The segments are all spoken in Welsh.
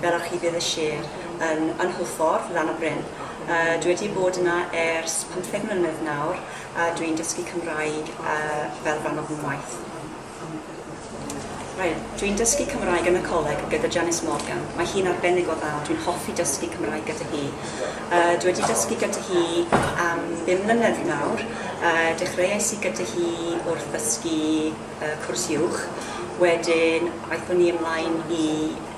Fel arch Ufudd y Sir yn yn Hwlffordd, Lan-y-bryn. Yy dwi wedi bod yna ers pymtheg mlynedd nawr a dwi'n dysgu Cymraeg yy fel rhan o fy ngwaith. Reit, dwi'n dysgu Cymraeg yn y coleg gyda Janice Morgan. Mae hi'n arbennig o dda, dwi'n hoffi dysgu Cymraeg gyda hi. Yy dwi wedi dysgu gyda hi am bum mlynedd nawr. Yy dechreuais i gyda hi wrth ddysgu yy cwrs uwch, wedyn aethon ni ymlaen i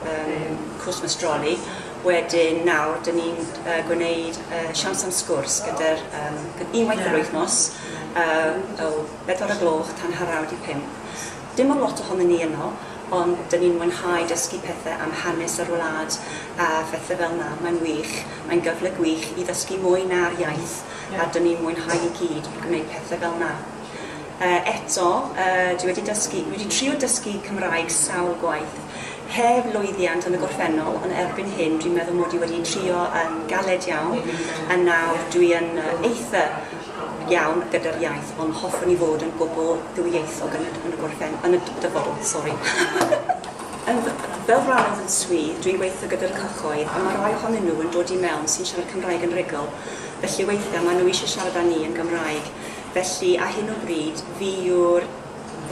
Yym, Christmas Jolly. Wedyn nawr, dyn ni'n uh, gwneud uh, siawns am sgwrs gyda'r um, unwaith yr wythnos um, o bedwar y gloch tan haraw di pum. Dim ond lot ohonyn ni yno, ond dyn ni'n mwynhau dysgu pethau am hanes yr wlad a phethau fel yna. Mae'n wych, mae'n gyfle gwych i ddysgu mwy na'r iaith a dyn ni'n mwynhau i gyd gwneud pethau fel yna. Yy eto, yy dwi wedi dysgu, dwi wedi trio dysgu Cymraeg sawl gwaith. Heb lwyddiant yn y gorffennol, ond erbyn hyn dwi'n meddwl mod i wedi trio yn galed iawn, a nawr dwi yn eitha' iawn gyda'r iaith, ond hoffwn i fod yn gwbl ddwyieithog yn y yn y gorffen- yn y dyfodol, sori. Yn fy- fel rhan o fy swydd, dwi'n gweithio gyda'r cyhoedd, a ma' rai ohonyn nhw yn dod i mewn sy'n siarad Cymraeg yn rhugl, felly weithiau maen nhw eisiau siarad â ni yn Gymraeg. Felly, ar hyn o bryd, fi yw'r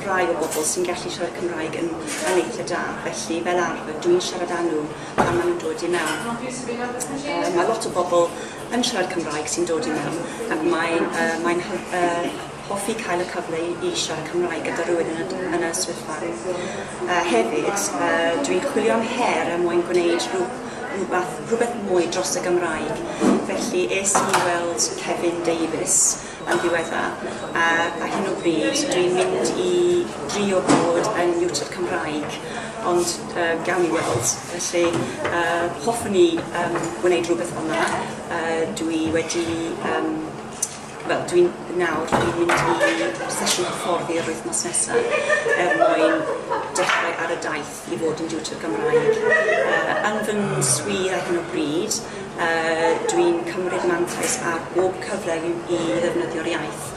rhai o bobl sy'n gallu siarad Cymraeg yn, yn eitha da. Felly, fel arfer, dw i'n siarad â nhw pan maen nhw'n dod i mewn. Uh, mae lot o bobl yn siarad Cymraeg sy'n dod i mewn ac mae'n uh, mae'n uh, hoffi cael y cyfle i, i siarad Cymraeg gyda rhywun yn y, yn y swyddfa. Uh, hefyd, uh, dwi'n chwilio am her er mwyn gwneud rhyw rhywbeth, rhywbeth mwy dros y Gymraeg. Felly es i i weld Kevin Davies yn ddiwedda, a ar hyn o bryd dwi'n mynd i drio bod yn niwtr Cymraeg, ond uh, gawn ni weld. Felly uh, hoffwn i um, wneud rhywbeth fel yna. Uh, dwi wedi... Um, wel, dwi'n nawr, dwi'n mynd i sesiwn hyfforddi yr wythnos nesaf er mwyn dechrau ar y daith. i fod yn diwtor Gymraeg. Yn fy ngwswyr ar hyn o bryd, dwi'n cymryd mantais ar bob cyfle i ddefnyddio'r iaith.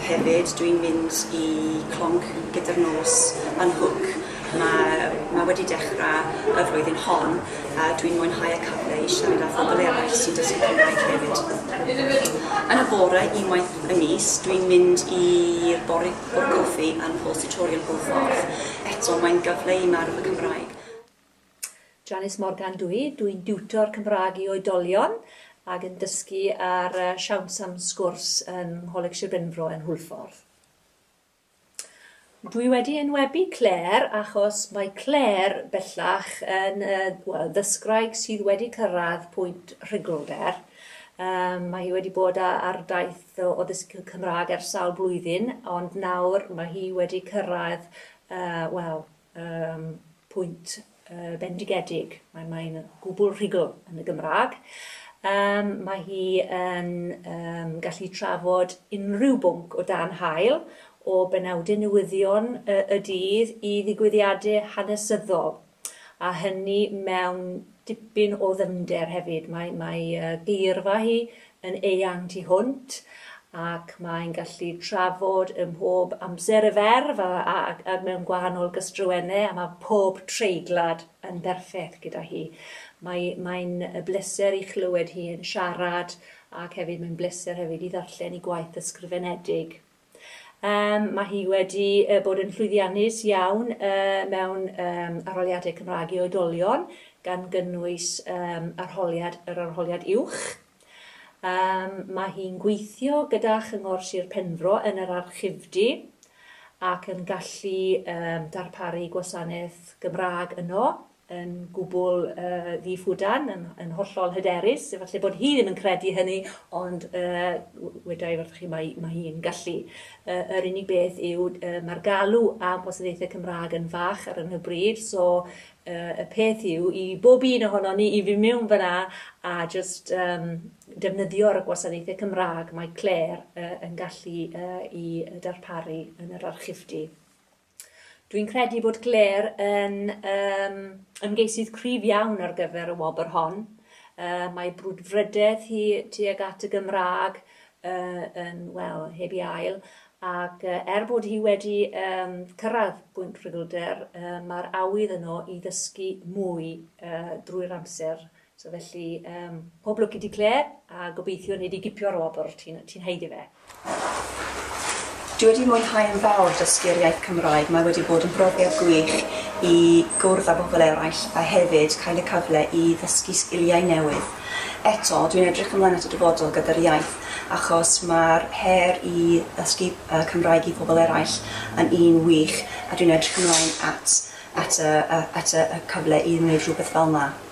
Hefyd, dwi'n mynd i Clonc gyda'r nos yn Hwc. Mae wedi dechrau y flwyddyn hon a dwi'n mwynhau y cyfle i siarad â phobl eraill sy'n dysgu Cymraeg hefyd. Yn y bore, unwaith y mis, dwi'n mynd i'r Bore o'r goffi yn Paul's Tutorial Hwyl Ffordd. Eto, mae'n gyfle i marw fy Cymraeg. Janice Morgan dw i. Dw i'n diwtor Cymraeg i oedolion ac yn dysgu ar Siawns am Sgwrs yng Ngholeg Sir Benfro yn Hwyl Ffordd. Dw i wedi enwebu Claire achos mae Claire bellach yn yy wel ddysgwraig sydd wedi cyrraedd pwynt rhugl der. Yym mae hi wedi bod a- ar daith Ddo o ddysgu Cymraeg ar sawl blwyddyn, ond nawr mae hi wedi cyrraedd, wel, yym, pwynt bendigedig. Mae mae hi'n gwbl rhugl yn y Gymraeg. Yym, mae hi yn yym gallu trafod unrhyw bwnc o dan haul, o benawdau newyddion y y dydd i ddigwyddiadau hanesyddol. a hynny mewn dipyn o ddyfnder hefyd. Mae, mae geirfa hi yn eang tu hwnt, ac mae'n gallu trafod ym mhob amser y ferf a, a, a mewn gwahanol gystrywennau, a mae pob treiglad yn berffaith gyda hi. Mae, mae'n bleser i chlywed hi yn siarad, ac hefyd mae'n bleser hefyd i ddarllen i gwaith ysgrifenedig. Yym, mae hi wedi yy bod yn llwyddiannus iawn yy mewn yym arholiadau Cymraeg i oedolion, gan gynnwys yym arholiad yr arholiad uwch. Yym, mae hi'n gweithio gyda Chyngor Sir Penfro yn yr Archifdy ac yn gallu yym darparu gwasanaeth Gymraeg yno. yn gwbl ddi-ffwdan, yn yn hollol hyderus, efalle bod hi ddim yn credu hynny, ond yy weda i wrthoch chi mae mae hi'n gallu. Yy yr unig beth yw yy ma'r galw am wasanaethe Cymraeg yn fach ar hyn o bryd, so yy y peth yw i bob un ohonon ni i fyn' miwn fyna a jyst yym defnyddio ar y gwasanaethe Cymraeg mae Clare yy yn gallu yy 'u darparu yn yr archifdy. Dwi'n credu bod Claire yn um, ymgeisydd cryf iawn ar gyfer y wobr hon. Uh, mae brwdfrydedd hi tuag at y Gymraeg uh, yn, wel, heb i ail, ac uh, er bod hi wedi um, cyrraedd bwynt rhugylder, uh, mae'r awydd yno i ddysgu mwy uh, drwy'r amser So felly, um, pob lwc i di Claire, a gobeithio nid i gipio'r wobr, ti'n ti heiddi fe. Dwi wedi mwynhau yn fawr dysgu'r iaith Cymraeg. Mae wedi bod yn brofiad gwych i gwrdd â bobl eraill a hefyd cael y cyfle i ddysgu sgiliau newydd. Eto, dwi'n edrych ymlaen at y dyfodol gyda'r iaith achos mae'r her i ddysgu uh, Cymraeg i bobl eraill yn un wych a dwi'n edrych ymlaen at, at, y, at y, y cyfle i wneud rhywbeth fel yna.